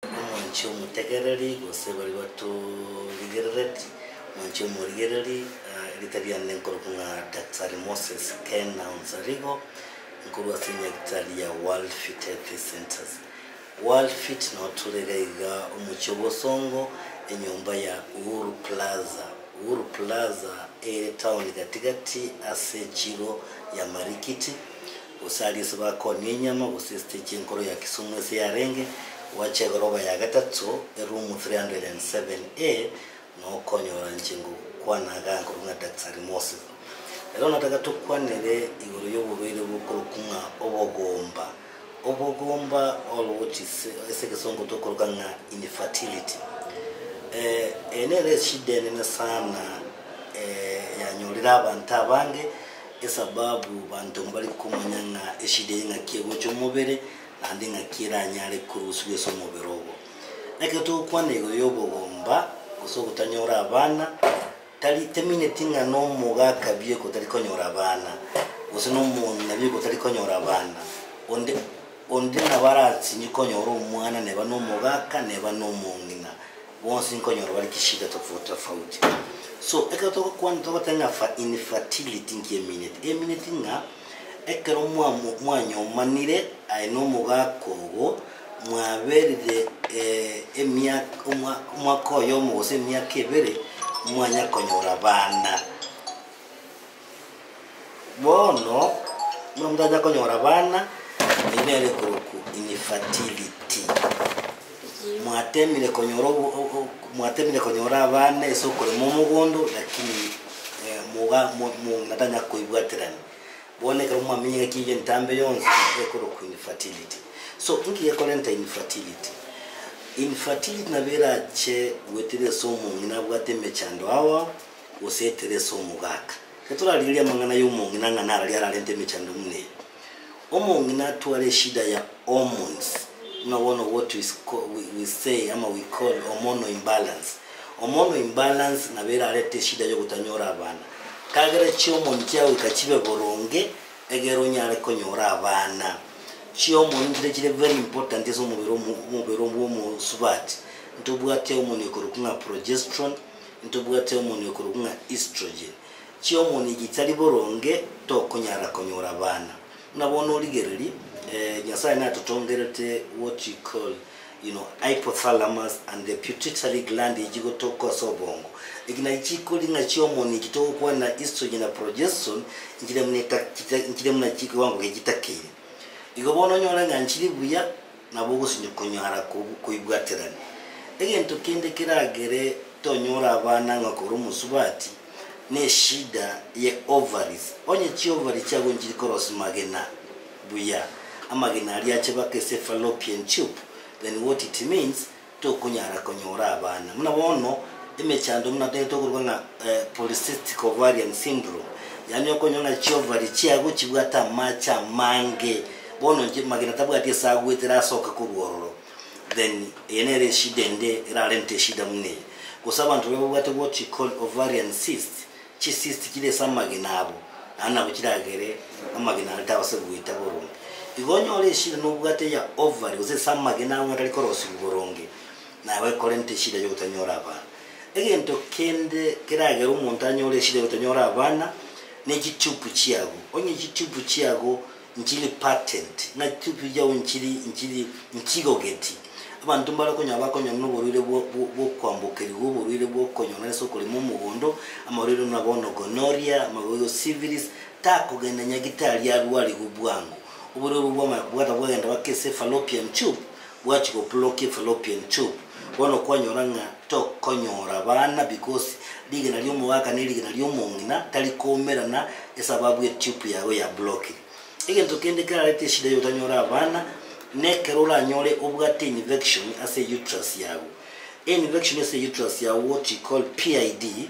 Omonche omotegereri, gose baria batorigerereti, omonche omorigereri, erieta riane ninkorokwa ng'a Daktari Moses Kena Onsarigo, nkorwa ase enyagitari ya World Fit Healthy Centres. World Fit nao tore iga iga omochie o Bosongo, enyomba ya Uhuru Plaza. Uhuru Plaza ere town gati gati ase echiro ya Marikiti. gose aria ase bakoonia enyama gose esiteji enkoro ya Kisumu ase yarenge gwacha egoroba ya gatato eroom 307A na okonyora inche ngokwana aganka korwa ng'a Daktari Mose. Ero nataka tokwanere igoro y'oborwaire bokorokwa ng'a obogomba. Obogomba or which is ase egesongo tokoroka ng'a infertility. Eye nere eshida enene sana yanyorire abanto abange. Esababu banto mbare komanya ng'a eshida eye ng'aki egocha omobere, naende ng'aki eranyare koruswa ase omobere obo. Ekero togokwana igoro y'obogomba, gose ogotanyora abana, tari temineti ng'a na omoga akabie gotari konyora abana, gose na omonto nabie gotari konyora abana. Onde onde nabo arasinye konyora omwana neba na omoga aka neba na omong'ina. Bonsi nkonyora bare chishida tofauti tofauti so ekero togokwana togoteba ng'a fa infertility nkiamineti emineti ng'a ekero mwa mwanyomanire aye na omogaka ogo mwaberire emiaka omwa omwaka oyomo gose emiaka ebere mwanya konyora abana. Bono, buna motanya konyora abana, eyio nere ekorokwa infertility. Mwatemire konyora obo- o- o- mwatemire konyora abana ase okorema omogondo lakini eh, moga- mo- mo- motanya koibwaterani. Bono ekero mwamenyire ng'aki eyio entambe yonsi, nere ekorokwa infertility. So, inki gekorenta infertility? Infertility nabo erache goetera ase omong'ina abwate emechando ao ao. gose ekero ase omogaka. Ekero torarigereria amang'ana y'omong'ina ng'a narari ararente emechando buna eye, omong'ina atware eshida ya hormones, buna bono what we we we say ama we call hormonal imbalance. Hormonal imbalance nabo erarete eshida y'ogotanyora abana. Kagera chihormone chiagoika chibe boronge, egere onyare konyora abana. Chihormone nichiria chire very important ase omobere omo omobere bw'omosubati. Ntobwate hormone ekorokwa ng'a progesterone. Ntobwate omoni okorokwa ng'a estrogen. Chiomoni echi chitari boronge tokonyara konyora abana. Buna bono origereri, Nyasaye natotongerete what you call you know hypothalamus and the putitary gland echi gotoka ase obongo. Echi nachi chikoria ng'a chiomoni echi togokwana estrogen na progeston nchire buna chire buna kiwango gie chitakeire. Igo bono onyore ng'a nchiri buya. Nabo ogosinywa konyara koibwaterania. Egento kende keragere tonyore abana ng'a kore omosubati neshida ye ovaries. Onye chiovari chiago nchiri korosia magena buya, amagena aria ache bake ase fallopian tube, then what it means, Tokonyara konyora abana. Buna bono, emechando buna taiyo tokorwa ng'a polycystic ovarian syndrome, yaani okonywa ng'a chiovari chiago chibwate amache amange, bono inche magena tabwati ase agwetire asoke korwa ororo, then eye nere eshida ende erarente eshida buna eye. Gose abanto baria babwate what you call ovarian cyst. Chisiisiti chire ase amagena abo, naende nabo chiragere amagena aro taaba ase goita boronge. Igo onyore eshida nobwate eya ovary gose ase amagena aro ng'a tari korosigwa boronge, na aba ekorenta eshida y'ogotanyora abana. Egento kende keragere omonto anyore eshida y'ogotanyora abana, ne chitubu chiago. Onye chitubu chiago nchiri patent, ng'a chitututi chiao nchiri nchiri nchigogeti, abanto mbare konyara bakonyora noborwaire bwo bwokwambokerigwa, oborwaire bwokonyong'era ase okorema omogondo, amarwaire buna bono gonorrhea, amagoigo syphilis, takogenda nyagitari arwarigwe bwango. Oborwaire obwo bwamanya bwata bwagenda baka ase fallopian tube, Bwachi gopurokia Fallopian tube. Bono kwanyora ng'a tokonyora abana because rigena ri'omogaka ne rigena ri'omong'ina tari koumerana esababu e tube yago yaburokire. Egento kende kerarete eshida y'otanyora abana nekero oranyore obwate infection ase euterus yago. Einfection ase euterus yago what we call PID.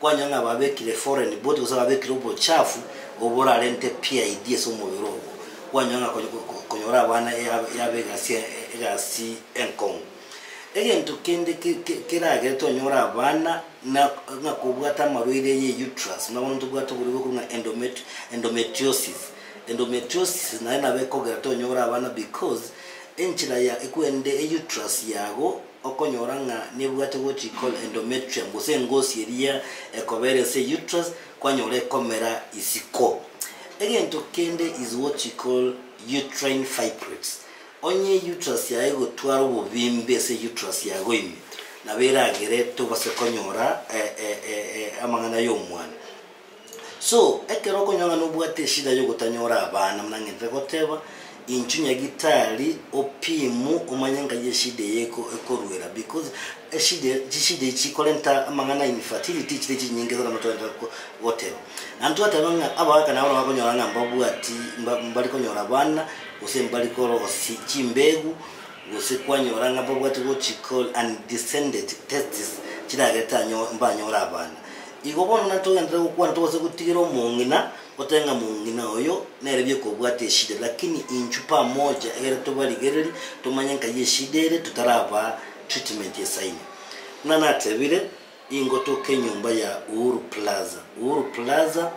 Kwanya ng'a babekire foreign body gose babekire obochafu oborarente PID ase omobere obo, kwanya ng'a konyora abana yaba egasi egasi enkong'u. Egento kende keragere twanyore abana na ng'a kobwate amarwaire ye uterus, buna bono ntobwate oborwaire bokobua ng'a endomet endometriosis. Endometriosis naye nabo ekogera tonyore abana because enchera ya ekwende euterus yago Okonyora ng'a nebwate gochia kol endometrium gose engosi eria ekoba ere ase uterus kwanyora ekomera isiko. Egento kende is what you call uterine fibroids. Onye uterus yago egotwara obobimbe ase uterus yago ime nabo eragere tobase konyora amang'ana y'omwana. So, ekero okonyora ng'a nobwate eshida y'ogotanyora abana, buna ng'entete goteba, inchu nyagitari opimu omanye nkai eshida eye eko ekoruera because eshida eye chishida echi chikorenta amang'ana infertility chire chinyinge sana motogenda ko goteba. Naende twateba ng'a abagaka nabo nabakonyora ng'a mbabwati mba mbari konyora abana, gose mbari korosia chimbegu, gose kwanyora ng'a mbabwati gochikol undescended testes chiragere tanyo mbanyore abana. Igo bono nari togenderere gokwana togose gotigera omong'ina, goteba ng'a mong'ina oyo nere bieka obwate eshida ere, lakini inchu pamoja egere tobarigereri tomanye nkai eshida ere totarabaa treatment esaini. Buna natebire, ingo toke enyomba ya Uhuru Plaza. Uhuru Plaza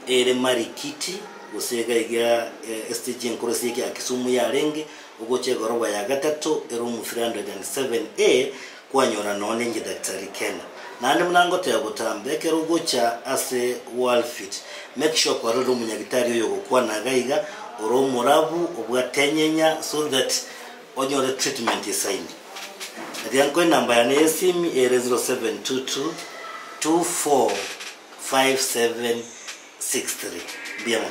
ere Marikiti gose iga iga estage enkoro ase ekiagera Kisumu yarenge, ogocha egoroba ya gatato ere Omuthiri 107A kwanyora noo ninche daktari kena? Naende buna ngoteba botambe, ekero ogocha ase Worldfit, make sure kwarorire omonyagitari oyo ogokwana iga iga, ore omorabu, obwate enyenya so that onyore treatment esaini. Eria nko enamba yane y'esimi ere 0722 245763. Mbuya mono.